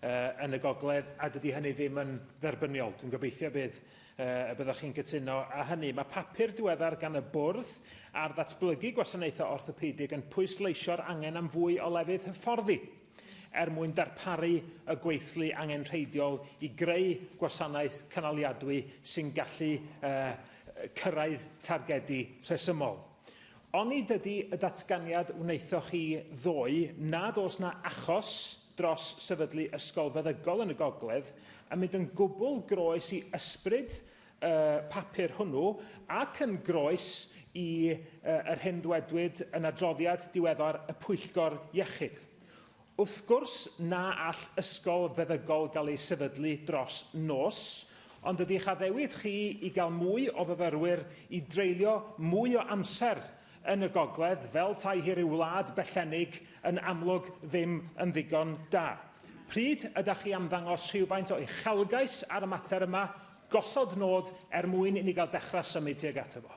uh, yn y gogledd, a dydy hynny ddim yn dderbyniol. Dwi'n gobeithio bydd, uh, y byddwch chi'n cytuno â hynny. Mae papur diweddar gan y bwrdd ar ddatblygu gwasanaethau orthopedig yn pwysleisio'r angen am fwy o lefydd hyfforddi er mwyn darparu y gweithlu angenrheidiol i greu gwasanaeth cynaliadwy sy'n gallu uh, cyrraedd targedu rhesymol. Onid ydy y datganiad wnaethoch chi ddoe nad oes 'na achos dros sefydlu ysgol feddygol yn y gogledd yn mynd yn gwbl groes i ysbryd y papur hwnnw ac yn groes i yr hyn ddwedwyd yn adroddiad diweddar y Pwyllgor Iechyd? Wrth gwrs na all ysgol feddygol gael ei sefydlu dros nos, ond ydy eich addewid chi i gael mwy o fyfyrwyr i dreulio mwy o amser yn y gogledd, fel tai hi ryw wlad bellennig, yn amlwg ddim yn ddigon da? Pryd ydach chi am ddangos rhywfaint o uchelgais ar y mater yma, gosod nod er mwyn i ni gael dechrau symud tuag ato fo?